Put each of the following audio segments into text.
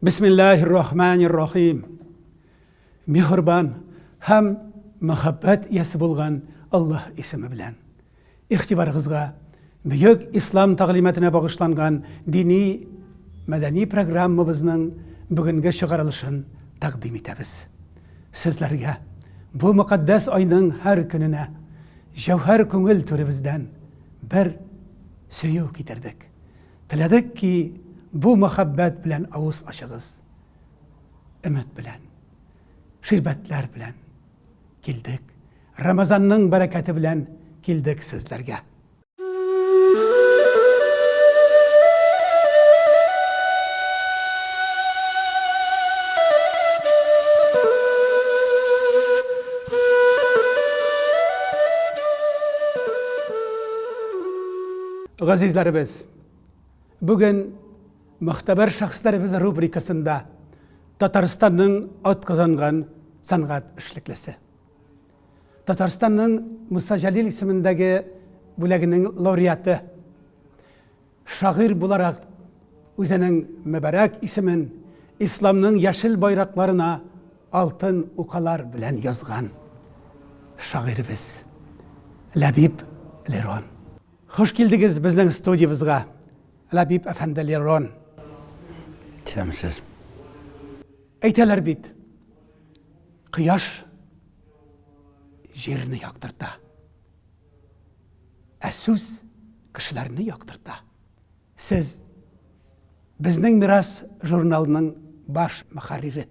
Бисмиллаһир рахманир рахим. Мехрбан һәм мәхәббәт иясе булган Аллаһ исеме белән. Игътибарыгызга бөек ислам тәгълиматына багышланган дини мәдәни программабызның бүгенге чыгарылышын тәкъдим итәбез. Сезләргә бу мөкатдәс айның һәр көненә җәүһәр күңел түребездән бер сөю китердек. Теләдек ки, бу мәхәббәт белән авыз ачыгыз. Өмет белән, ширбәтләр белән килдек. Рамазанның бәрәкәте белән килдек сезләргә. Газизләребез, бүген Мөхтәбәр шәхесләребез рубрикасында Татарстанның атказанган сәнгать эшлеклесе. Татарстанның Муса Җәлил исемендәге бүләгенең лауреаты. Шагыйрь буларак үзенең мөбарәк исемен исламның яшел байракларына алтын укалар белән язган шагыйребез Ләбиб Лерон. Хуш килдегез безнең студиябезгә, Ләбиб әфәнде Лерон. Исәнмесез. Әйтәләр бит, кояш җирне яктырта, ә сүз кешеләрне яктырта. Сез, Безнең мирас журналының баш мөхәррире.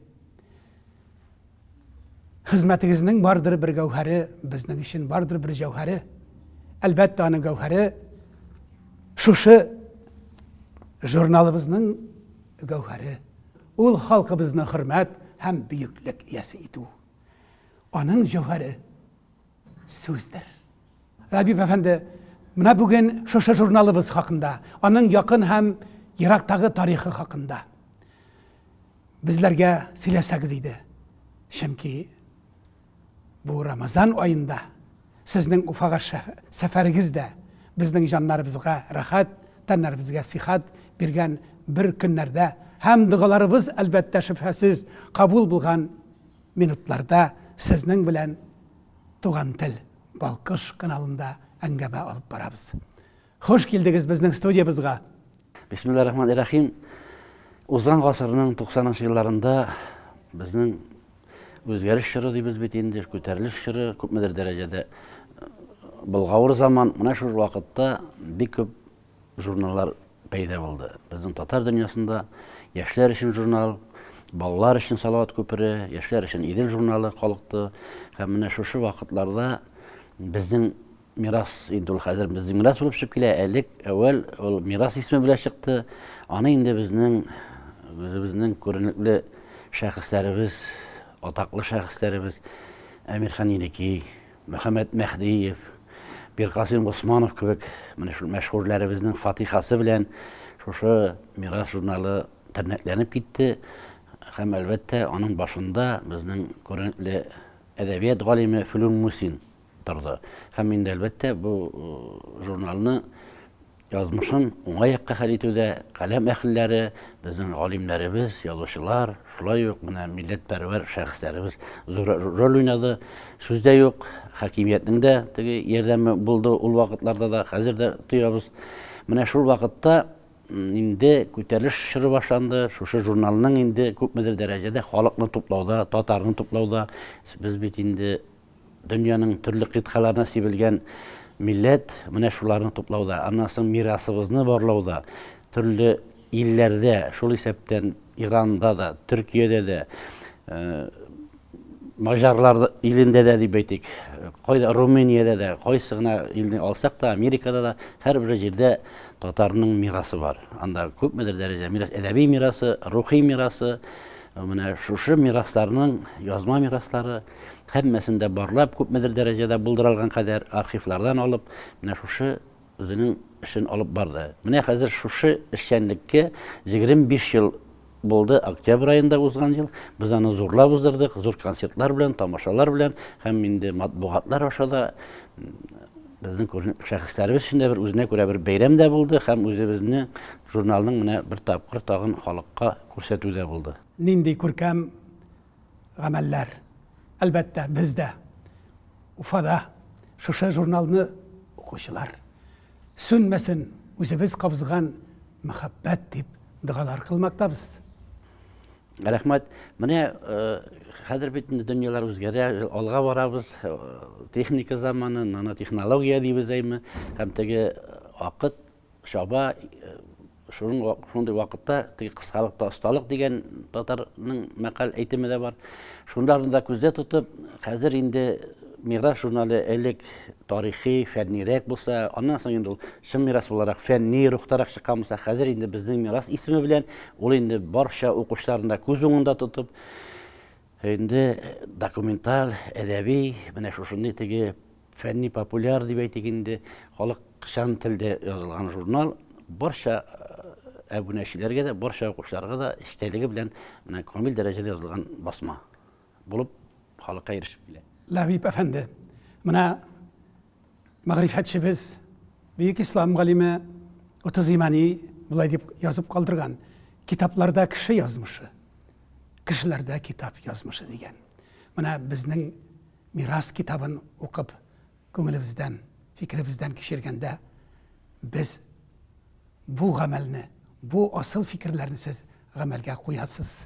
Хезмәтегезнең бардыр бер гәүһәре, безнең өчен бардыр бер җәүһәре. Әлбәттә, аның гәүһәре шушы журналыбызның гәүһәре. Ул халкыбызны хөрмәт һәм бөеклек иясе итү. Аның җәүһәре. сүздер. Рабип әфәнде, менә бүген шушы журналыбыз хакында, аның якын һәм ерактагы тарихы хакында безләргә сөйләсәгез иде. Чөнки бу Рамазан аенда сезнең Уфага сәфәрегез дә безнең җаннарыбызга рәхәт, тәннәребезгә сихәт биргән бер көннәрдә һәм догаларыбыз, әлбәттә, шөбһәсез кабул булган минутларда сезнең белән Туган тел балкыш каналында әңгәмә алып барабыз. Хуш килдегез безнең студиябызга. Бисмиллаһ рахман рәхим. Узган гасырның 90 елларында безнең үзгәреш чоры дибез бит инде, күтәрелеш чоры күпмедер дәрәҗәдә болгавыр заман. Менә шул вакытта бик күп журналлар пәйда булды. Безнең татар дөньясында яшьләр өчен журнал, балалар өчен Салават күпере, яшьләр өчен Идел журналы калыкты. Һәм менә шушы вакытларда безнең мирас инде ул хәзер безнең мирас булып чыгып килә. Элек әүвәл ул мирас исеме белән чыкты. Аны инде безнең үзебезнең күренекле шәхесләребез, атаклы шәхесләребез Әмирхан Еникей, Мөхәммәт Мәһдиев, Миркасыйм Госманов кебек менә шул мәшһүрләребезнең фатихасы белән шушы Мирас журналы тернәкләнеп китте. Һәм, әлбәттә, аның башында безнең күренекле әдәбият галиме Флүн Мусин торды. Һәм инде, әлбәттә, бу журналны Язмышын уңай якка хәл итүдә каләм әһелләре, безнең галимнәребез, язучылар, шулай ук менә милләтпәрвәр шәхесләребез зур роль уйнады. Сүз дә юк, хакимиятнең дә теге ярдәме булды ул вакытларда да, хәзер дә тоябыз. Менә шул вакытта инде күтәрелеш чоры башланды. Шушы журналның инде күпмедер дәрәҗәдә халыкны туплауда, татарны туплауда без бит инде Дөньяның төрле кыйтгаларына сибелгән милләт менә шуларны туплауда, аннан соң мирасыбызны барлауда, төрле илләрдә, шул исәптән Иранда да, Төркиядә дә, Маҗарлар илендә дә дип әйтик, кайда Румыниядә дә, кайсы гына илне алсак та, Америкада да һәрбер җирдә татарның мирасы бар. Анда күпмедер дәрәҗә мирас, әдәби мирасы, рухи мирасы, менә шушы мирасларның язма мираслары Һәммәсен дә барлап, күпмедер дәрәҗәдә булдыралган кадәр архивлардан алып, менә шушы үзенең эшен алып барды. Менә хәзер шушы эшчәнлеккә 25 ел булды, октябрь аенда узган ел. Без аны зурлап уздырдык, зур концертлар белән, тамашалар белән һәм инде матбугатлар аша да безнең күренеп шәхесләребез өчен дә бер үзенә күрә бер бәйрәм дә булды һәм үзебезне журналның менә бер тапкыр тагын халыкка күрсәтү дә булды. Нинди күркәм гамәлләр. Әлбәттә, без дә, Уфада шушы журналны укучылар, сүнмәсен үзебез кабызган мәхәббәт дип догалар кылмактабыз. Рәхмәт. Менә хәзер бит инде дөньялар үзгәрә, алга барабыз, техника заманы, нанотехнология дибез әйме, һәм теге акыт чаба. Шуның шундый вакытта теге кыскалыкта осталык дигән татарның мәкаль әйтеме дә бар. Шунларны да күздә тотып, хәзер инде мирас журналы элек тарихи, фәннирәк булса, аннан соң инде ул чын мирас буларак фәнни рухтарак чыккан булса, хәзер инде безнең мирас исеме белән ул инде барча укучыларны да күз уңында тотып, Инде документаль, әдәби, менә шушындый теге фәнни-популяр дип әйтик инде, халыкчан телдә язылган журнал барча әбүнәчеләргә дә, барча укучыларга да эчтәлеге белән менә камил дәрәҗәдә язылган басма булып халыкка ирешеп килә. Ләбиб әфәнде, менә Мәгърифәтчебез, бөек ислам галиме Отозимани болай дип язып калдырган, Китапларда кеше язмышы, кешеләрдә китап язмышы, дигән. Менә безнең Мирас китабын укып, күңелебездән, фикеребездән кичергәндә, без бу гамәлне, бу асыл фикерләрне сез гамәлгә куясыз,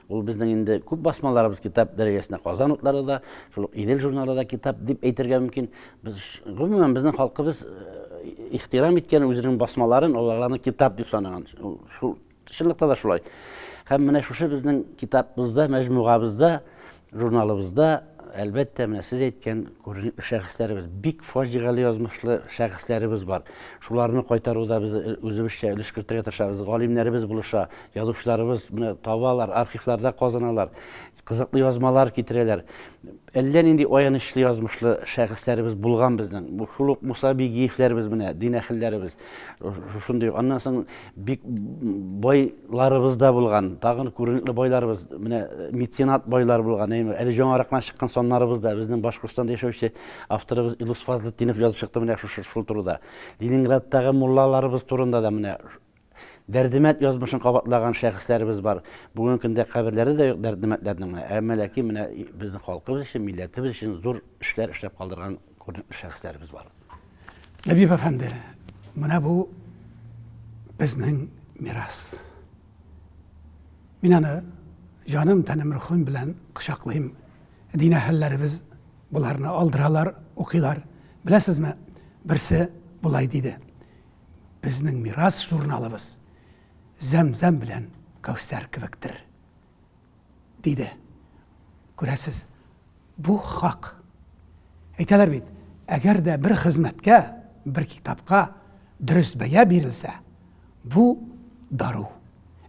Ул безнең инде күп басмаларыбыз китап дәрәҗәсенә Казан утлары да, шул ук Идел журналы да китап дип әйтергә мөмкин. Без гомумән безнең халкыбыз ихтирам иткән үзенең басмаларын, аларны китап дип санаган. Шул чынлыкта да шулай. Һәм менә шушы безнең китабыбызда, мәҗмугабызда, журналыбызда әлбәттә, менә сез әйткән күренекле шәхесләребез, бик фаҗигале язмышлы шәхесләребез бар. Шуларны кайтаруда без э, үзебезчә өлеш кертергә тырышабыз. Галимнәребез булыша, Язучыларыбыз моны табалар, архивларда казыналар, кызыклы язмалар китерәләр. Әллә нинди аянычлы язмышлы шәхесләребез булган безнең. Бу шул ук Муса Бигиевләребез менә, дин әһелләребез. Шушындый. Аннан соң бик байларыбыз да булган. Тагын күренекле байларыбыз, менә э, меценат байлар булган. Әйме, әле җаңарак кына чыккан саннарыбыз да безнең Башкортстанда яшәүче авторыбыз Илус Фазлетдинов язып чыкты менә шушы шул турыда. Ленинградтагы муллаларыбыз турында да менә Дәрдемәнд язмышын кабатлаган шәхесләребез бар. Бүгенге көндә каберләре дә юк Дәрдемәндләрнең менә. Әмма ләкин менә безнең халкыбыз өчен, милләтебез өчен зур эшләр эшләп калдырган күренекле шәхесләребез бар. Нәбиев әфәнде, менә бу безнең мирас. Мин аны җаным, тәнем, рухым белән кочаклыйм. Дин әһелләребез боларны алдыралар, укыйлар. Беләсезме, берсе болай диде. безнең мирас журналыбыз зәмзәм белән кәүсәр кебектер, диде. Күрәсез, бу хак. Әйтәләр бит, әгәр дә бер хезмәткә, бер китапка дөрес бәя бирелсә, бу дару.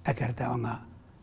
Әгәр дә аңа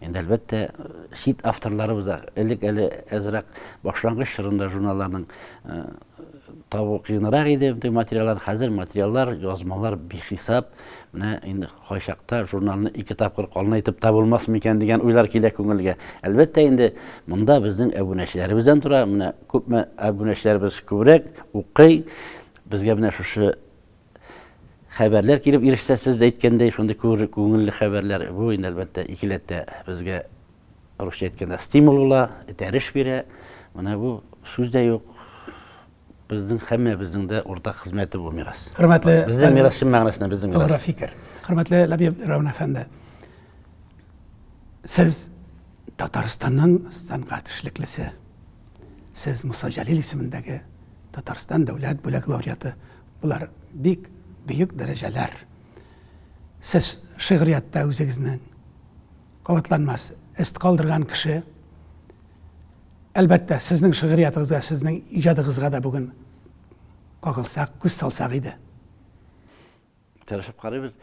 Инде, әлбәттә, чит авторларыбыз да элек әле әзрәк башлангыч чорында журналларның табу кыенрак иде бөтен материаллар хәзер материаллар язмалар бихисап менә инде кайчакта журналны ике тапкыр калын итеп та булмас микән дигән уйлар килә күңелгә әлбәттә инде монда безнең әбүнәчеләребездән тора менә күпме әбүнәчеләребез күбрәк укый безгә менә шушы хәбәрләр килеп ирешсә, сез дә әйткәндәй, шундый күңелле хәбәрләр, бу инде әлбәттә икеләтә безгә русча әйткәндә стимул була, этәреш бирә. Менә бу сүз дә юк. Безнең һәммәбезнең дә уртак хезмәте бу мирас. Хөрмәтле безнең мирас чын мәгънәсендә безнең мирас. Тугры фикер. Хөрмәтле Ләбиб Рәвна әфәнде. Сез Татарстанның сәнгать эшлеклесе. Сез Муса Җәлил исемендәге Татарстан дәүләт бүләк лауреаты. Болар бик бөек дәрәҗәләр. Сез шигърияттә үзегезнең кабатланмас эз калдырган кеше. Әлбәттә, сезнең шигъриятыгызга, сезнең иҗадыгызга да бүген кагылсак, күз салсак иде. Тырышып карыйбыз.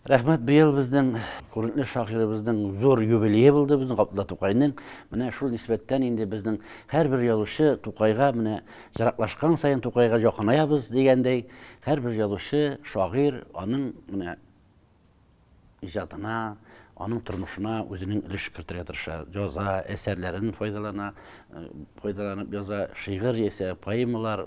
Рәхмәт, быел безнең күренекле шагыйребезнең зур юбилее булды, безнең Габдулла Тукайның. Менә шул нисбәттән инде безнең һәрбер язучы Тукайга менә ераклашкан саен Тукайга якынаябыз дигәндәй, һәрбер язучы, шагыйрь аның менә иҗатына, аның тормышына үзенең өлеш кертергә тырыша. Яза, әсәрләрен файдалана, файдаланып яза, шигырь яисә поэмалар,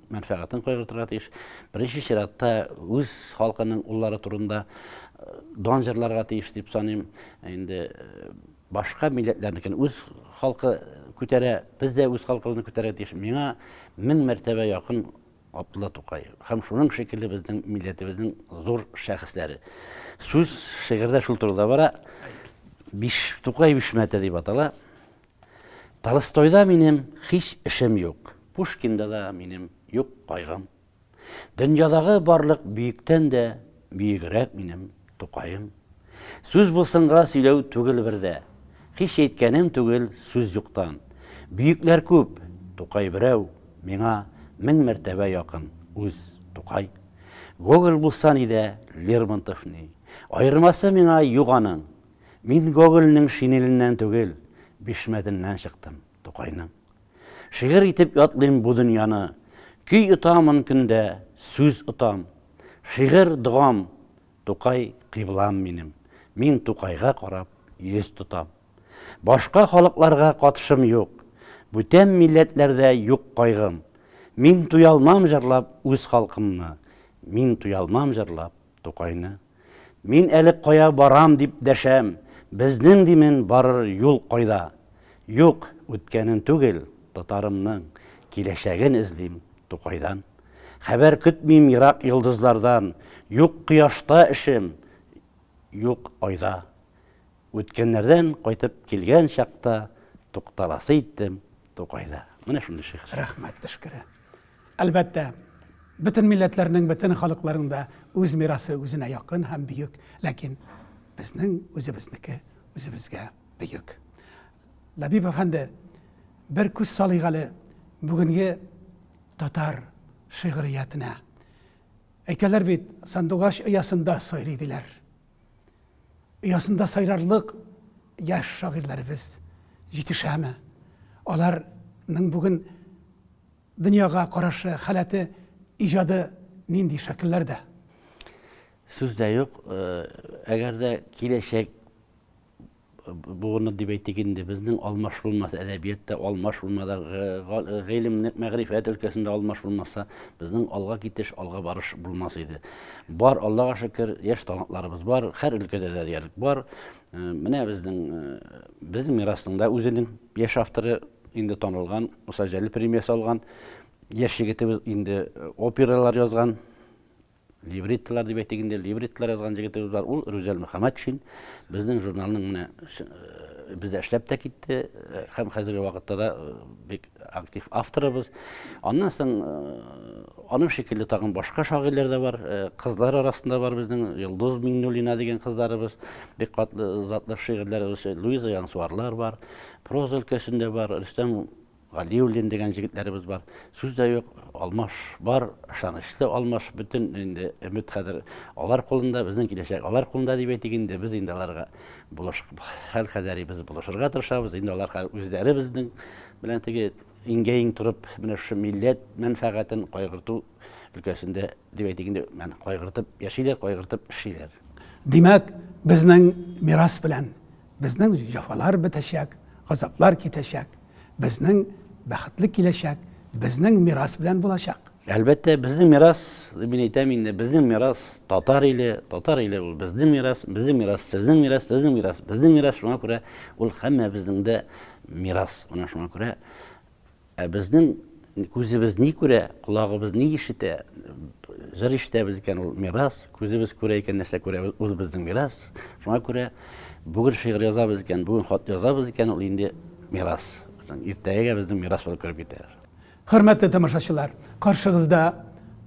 мәнфәгатен кайгыртырга тиеш. Беренче чиратта үз халкының уллары турында э, дан җырларга тиеш дип саныйм. Инде э, башка милләтләрнекен үз халкы күтәрә, без дә үз халкыбызны күтәрә тиеш. Миңа мең мәртәбә якын Абдулла Тукай һәм шуның шикелле безнең милләтебезнең зур шәхесләре. Сүз шигырьдә шул турыда бара. Биш Тукай бишмәте дип атала. Толстойда минем һич эшем юк, Пушкинда да минем юк кайгым. Дөньядагы барлык бөектән дә бөегрәк минем Тукаем. Сүз булсынга сөйләү түгел бердә, Һич әйткәнем түгел сүз юктан. Бөекләр күп, Тукай берәү, Миңа мең мәртәбә якын үз Тукай. Гоголь булса ни дә, Лермонтов ни, Аермасы миңа юк аның, Мин Гогольнең шинеленнән түгел, бишмәтеннән чыктым, Тукайның. Шигырь итеп ятлыйм бу дөньяны, Көй отамын көндә, сүз отам. Шигырь, догам, Тукай, кыйблам минем. Мин Тукайга карап, йөз тотам. Башка халыкларга катышым юк, Бүтән милләтләрдә юк кайгым. Мин туялмам җырлап үз халкымны, Мин туялмам җырлап Тукайны. Мин әле кая барам дип дәшәм, безнең димен барыр юл кайда? Юк, үткәнен түгел, татарымның киләчәген эзлим Тукайдан. Хәбәр көтмим ерак йолдызлардан, юк кояшта эшем, юк айда. Үткәннәрдән кайтып килгән чакта тукталасы иттем Тукайда. Менә шундый шигырь. Рәхмәт, Тышкыры. Әлбәттә, бөтен милләтләрнең, бөтен халыкларның да үз мирасы үзенә якын һәм бөек, ләкин безнең үзебезнеке үзебезгә бөек. Ләбиб әфәнде, бер күз салыйк әле бүгенге татар шигъриятенә. Әйтәләр бит, сандугач оясында сайрый диләр. оясында сайрарлык яшь шагыйрьләребез җитешәме? Аларның бүген дөньяга карашы, халәте, иҗады нинди шәкелләрдә? Сүз дә юк, әгәр дә киләчәк Буыны дип әйтик инде, безнең алмаш булмаса, әдәбиятта алмаш булмада, гыйлем, мәгърифәт өлкәсендә алмаш булмаса, безнең алга китеш, алга барыш булмас иде. Бар, Аллага шөкер, яшь талантларыбыз бар, һәр өлкәдә дә диярлек бар. Э, менә безнең э, безнең мирасның да үзенең яшь авторы инде танылган, Муса Җәлил премиясе алган, яшь егетебез инде э, опералар язган, Либреттолар дип әйтик инде, либреттолар язган җегетебез бар, ул Рүзәл Мөхәммәтшин. Безнең журналның менә э, бездә эшләп тә китте э, һәм хәзерге вакытта да э, бик актив авторыбыз. Аннан соң аның шикелле тагын башка шагыйрьләр дә бар. Кызлар арасында бар безнең Йолдыз Миңнуллина дигән кызларыбыз. Бик катлы затлы шигырьләр Луиза Янсуарлар бар. Проза өлкәсендә бар Рөстәм Галиуллин дигән җегетләребез бар. Сүз дә юк, Алмаш бар, ышанычлы Алмаш, бөтен инде өмет хәзер алар кулында, безнең киләчәк алар кулында дип әйтик инде. Без инде аларга булыш хәл кадәрибез булышырга тырышабыз. Инде алар үзләре безнең белән теге иңгә-иң торып, менә шушы милләт мәнфәгатен кайгырту өлкәсендә дип әйтик инде, мән кайгыртып яшиләр, кайгыртып эшлиләр. Димәк, безнең мирас белән безнең җәфалар бетәчәк, газаплар китәчәк. Безнең бәхетле киләчәк безнең мирас белән булачак. Әлбәттә, безнең мирас, мин әйтәм инде, безнең мирас татар иле, татар иле ул безнең мирас, безнең мирас сезнең мирас, сезнең мирас безнең мирас, шуңа күрә ул һәммәбезнең дә мирас. Менә шуңа күрә ә безнең Күзебез ни күрә, колагыбыз ни ишетә, җыр ишетәбез икән, ул мирас. Күзебез күрә икән, нәрсә күрәбез, ул безнең мирас. Шуңа күрә бүген шигырь язабыз икән, бүген хат язабыз икән, ул инде мирас. Иртәгәгә безнең мирас булып кереп китә. Хөрмәтле тамашачылар, каршыгызда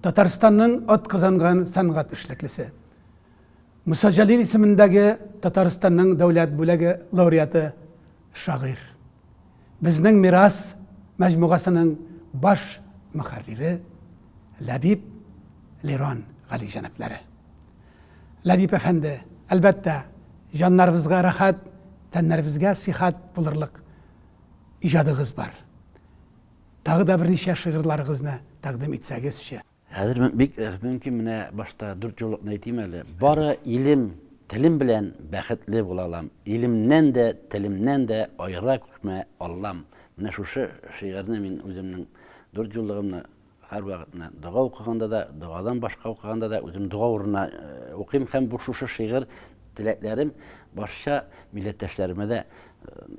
Татарстанның атказанган сәнгать эшлеклесе, Муса Җәлил исемендәге Татарстанның дәүләт бүләге лауреаты, шагыйрь Безнең мирас мәҗмугасының баш мөхәррире Ләбиб Лерон галиҗәнапләре. Ләбиб әфәнде, әлбәттә, җаннарыбызга рәхәт, тәннәребезгә сихәт булырлык иҗадыгыз бар. Тагы да берничә шигырьларыгызны тәкъдим итсәгезче. Хәзер бик э, мөмкин менә башта дүрт юллыкны әйтим әле. Бары илем, телем белән бәхетле була алам. Илемнән дә, телемнән дә аера күрмә Аллам. Менә шушы шигырьне мин үземнең дүрт юллыгымны һәрвакыт менә дога укыганда да, догадан башка укыганда да үзем дога урынына э, укыйм һәм бу шушы шигырь Теләкләрем барча милләттәшләремә дә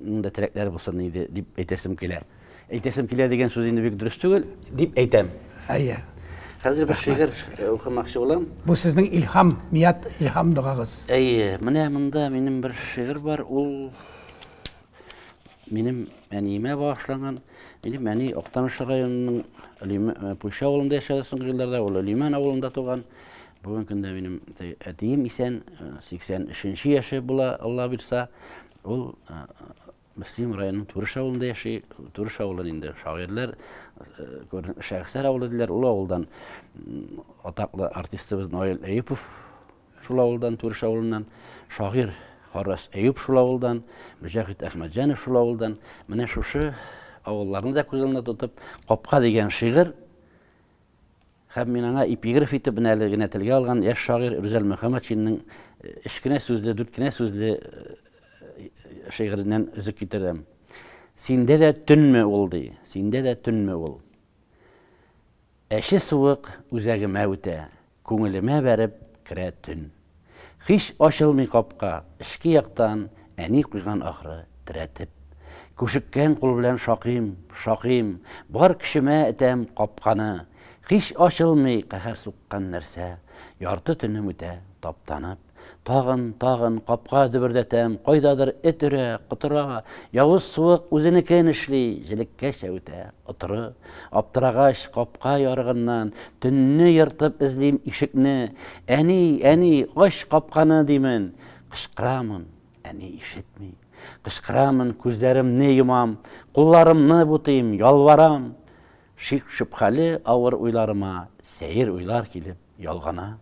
ның да теләкләре булсын иде дип әйтәсем килә. Әйтәсем килә дигән сүз инде бик дөрес түгел, дип әйтәм. Әйе. Хәзер бер шигырь укымакчы булам. Бу сезнең илһам, мият илһам догагыз. Әйе, менә монда минем бер шигырь бар, ул Минем әниемә багышланган. Минем әни Актаныш районының э, Пуйша авылында яшәде соңгы елларда, ул Лиман авылында туган. Бүгенге көндә минем әтием исән, 83 э, яше була, Алла бирса. Ул э, Мөслим районының Турыш авылында яши. Турыш авылы инде шагыйрьләр, шәхесләр авылы диләр. Ул авылдан атаклы артистыбыз Наил Әйүпов Шул авылдан, Түреш авылыннан шагыйрь Харрас Әюп шул авылдан, Мөҗәхит Әхмәтҗанов шул авылдан. Менә шушы авылларны да күз алдына тотып, Капка дигән шигырь һәм мин аңа эпиграф итеп менә әле генә телгә алган яшь шагыйрь Рүзәл Мөхәммәтшинның өч кенә сүзле, дүрт кенә сүзле шигыреннән өзек китерәм. Синдә дә төнме ул, ди, синдә дә төнме ул? Әче суык үзәгемә үтә, Күңелемә бәреп керә төн. Һич ачылмый капка, эчке яктан Әни куйган ахры, терәтеп. Күшеккән кул белән шакыйм, шакыйм, Бар көчемә этәм капканы. Һич ачылмый каһәр суккан нәрсә, Ярты төнем үтә таптанып. Тагын, тагын капка дөбердәтәм, кайдадыр эт өрә, котыра, явыз суык үзенекен эшли, җелеккә чәветә, отыры. Аптырагач, капка ярыгыннан, төнне ертып эзлим ишекне. Әни, әни, ач капканы, димен. Кычкырамын, әни ишетми. Кычкырамын, күзләремне йомам, кулларымны бутыйм, ялварам. Шик-шөбһәле авыр уйларыма сәер уйлар килеп, Ялгана.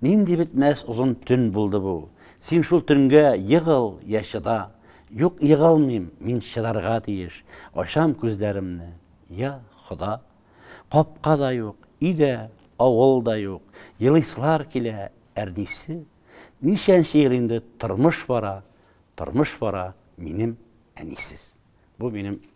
Нинди бетмәс озын төн булды бу. Син шул төнгә егыл я чыда. Юк, егылмыйм, мин чыдарга тиеш. Ачам күзләремне, я Хода. Капка да юк, өй дә, авыл да юк. Елыйсылар килә, әрнисе. Ничәнче ел инде тормыш бара, тормыш бара минем әнисез. Бу минем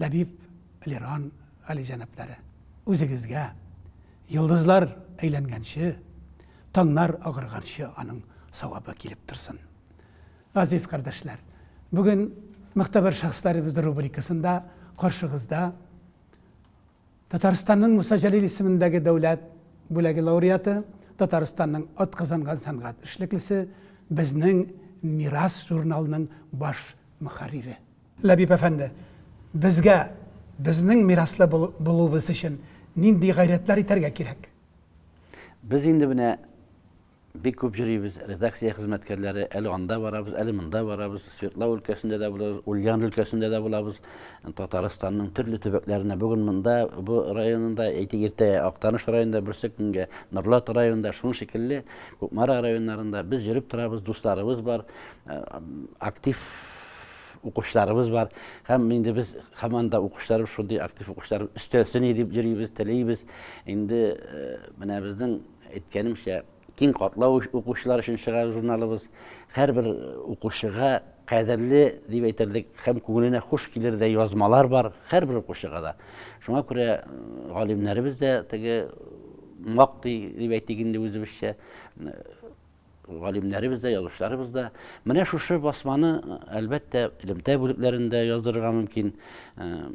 Ләбиб, Лиран галиҗәнапләре, үзегезгә, йолдызлар әйләнгәнче, таңнар агарганчы аның савабы килеп торсын. Газиз кардәшләр, бүген Могтәбәр шәхесләребез рубрикасында каршыгызда Татарстанның Муса Җәлил исемендәге дәүләт бүләге лауреаты, Татарстанның атказанган сәнгать эшлеклесе, безнең Мирас журналының баш мөхәррире. Ләбиб әфәнде, безгә, безнең мираслы булуыбыз өчен нинди гайрәтләр итәргә кирәк? Без инде менә бик күп йөрибез, редакция хезмәткәрләре, әле анда барабыз, әле монда барабыз, Свердлау өлкәсендә дә булабыз, Ульян өлкәсендә дә булабыз, Татарстанның төрле төбәкләренә, бүген монда, бу районында, әйтик, иртә Актаныш районында, берсе көнгә Норлат районында, шуның шикелле Кукмара районнарында без йөреп торабыз, дусларыбыз бар, актив укучыларыбыз бар. Һәм инде без һаман да укучыларыбыз шундый актив укучылар өстәлсен дип йөрибез, телибез. Инде менә безнең әйткәнемчә киң катлау укучылар өчен чыгар журналыбыз. Һәрбер укучыга кадерле дип әйтерлек һәм күңеленә хуш килердәй язмалар бар һәрбер укучыга да. Шуңа күрә галимнәребез дә теге мактый дип әйтик инде үзебезчә Галимнәребез дә, язучыларыбыз да менә шушы басманы, әлбәттә, элемтә бүлекләрендә яздырырга мөмкин,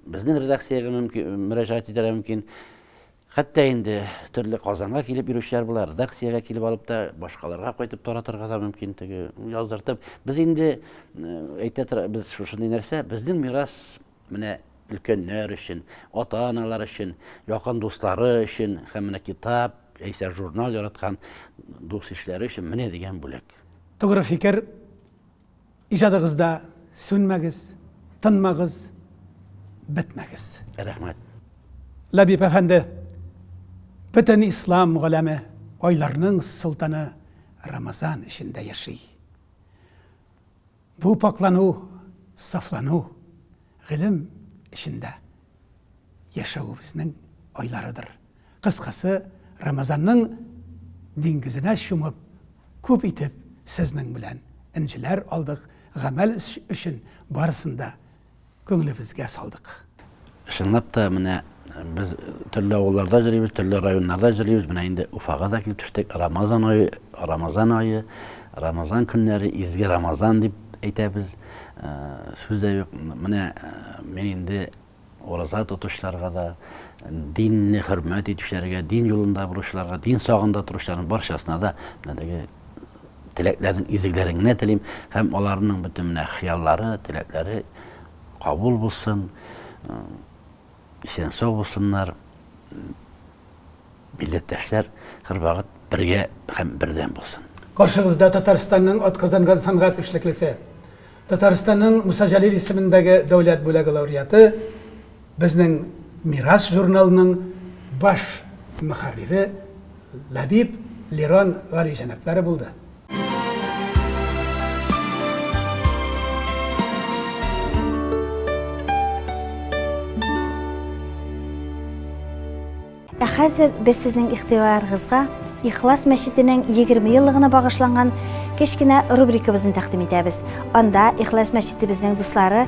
безнең редакциягә мөрәҗәгать итәргә мөмкин. Хәтта инде төрле Казанга килеп йөрүчеләр була, редакциягә килеп алып та, башкаларга кайтып таратырга да мөмкин теге яздыртып. Без инде әйтә тора, без шушындый нәрсә, безнең мирас менә өлкәннәр өчен, ата-аналар өчен, якын дуслары өчен һәм менә китап яисә журнал яраткан дус-ишләре өчен менә дигән бүләк. Тугры фикер, иҗадыгызда сүнмәгез, тынмагыз, бетмәгез! Рәхмәт! Ләбиб әфәнде, бөтен ислам галәме айларның солтаны Рамазан эчендә яши. Бу пакълану, сафлану, гыйлем эчендә яшәвебезнең айларыдыр. Кыскасы, Рамазанның диңгезенә чумып, күп итеп сезнең белән энҗеләр алдык, гамәл өчен барысын да күңелебезгә салдык. Чынлап та, менә без төрле авылларда йөрибез, төрле районнарда йөрибез, менә инде Уфага да килеп төштек. Рамазан ае, Рамазан ае, Рамазан көннәре, изге Рамазан дип әйтәбез. Сүз дә юк. Менә мин инде ураза тотучыларга да, динне хөрмәт итүчеләргә, дин юлында баручыларга, дин сагында торучыларның барчасына да менә теге Теләкләрен изегләрен генә телим һәм аларның бөтен менә хыяллары, теләкләре кабул булсын, исән сау булсыннар. Милләттәшләр һәрвакыт бергә һәм бердәм булсын. Каршыгызда Татарстанның атказанган сәнгать эшлеклесе, Татарстанның Муса Җәлил исемендәге дәүләт бүләге лауреаты, безнең Мирас журналының баш мөхәррире Ләбиб Лирон галиҗәнаплары булды. Ә хәзер без сезнең игътибарыгызга Ихлас мәчетенең 20 еллыгына багышланган кечкенә рубрикабызны тәкъдим итәбез. Анда Ихлас мәчетебезнең дуслары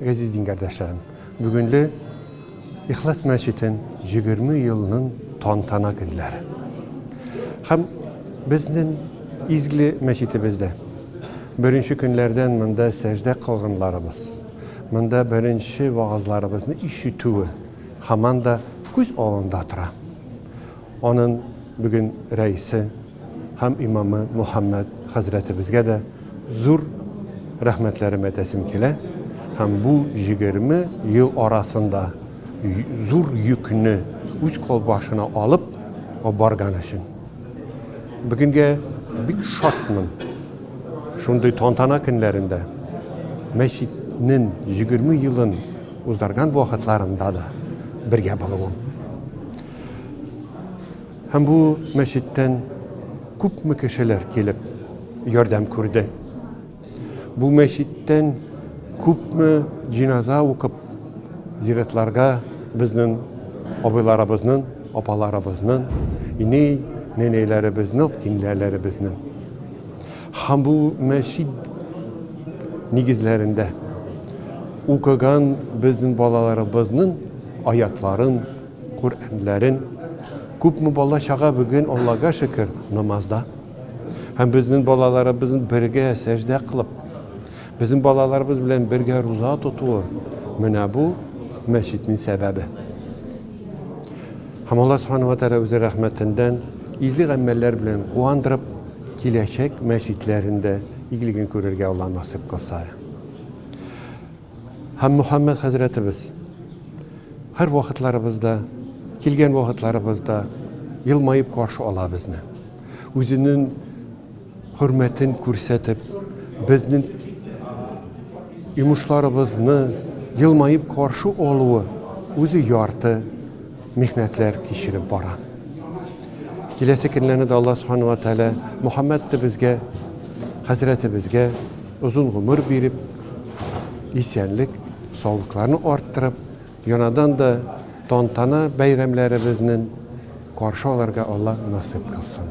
Газиз дин кардәшләрем, бүгенле Ихлас мәчетен 20 елның тантана көннәре. Хәм безнең изгли мәчетебездә беренче көннәрдән монда сәждә кылгынларыбыз, монда беренче вагызларыбызны ишетүе хаманда күз алында тора. Аның бүген рәисе һәм имамы Мөхәммәд хәзрәтебезгә дә зур рәхмәтләрем әтәсем килә һәм бу җигерме ел арасында зур йөкне үз кол башына алып барган өчен. Бүгенгә бик шатмын. Шундый тантана көннәрендә, мәчетнең җигерме елын уздырган вакытларында да бергә булуым. Һәм бу мәчеттән күпме кешеләр килеп ярдәм күрде. Бу мәчеттән күпме җиназа укып, зиратларга безнең абыйларыбызның, апаларыбызның, ине, нәнәйләребезнең, кинләләребезнең. Һәм бу мәчет нигезләрендә укыган безнең балаларыбызның аятларын, Коръәнләрен күпме бала чага бүген Аллага шөкер намазда. Һәм безнең балаларыбыз бергә сәҗдә кылып, безнең балаларыбыз белән бергә руза тотуы, менә бу мәчетнең сәбәбе. Һәм Алла Субхана ва Тәгалә үзе рәхмәтендән изге гамәлләр белән куандырып, киләчәк мәчетләрендә игелеген күрергә Алла насыйп кылса. Һәм Мөхәммәд хәзрәтебез һәр вакытларыбызда, килгән вакытларыбызда елмаеп каршы ала безне. Үзенең хөрмәтен күрсәтеп, безнең йомышларыбызны елмаеп каршы алуы үзе ярты михнәтләр кичереп бара. Киләсе көннәрне дә Алла Субхану ва Тәгалә Мухаммәд безгә, хәзрәтебезгә озын гомер биреп, исәнлек, саулыкларны арттырып, янадан да тантана бәйрәмнәребезнең каршы аларга Алла насыйп кылсын.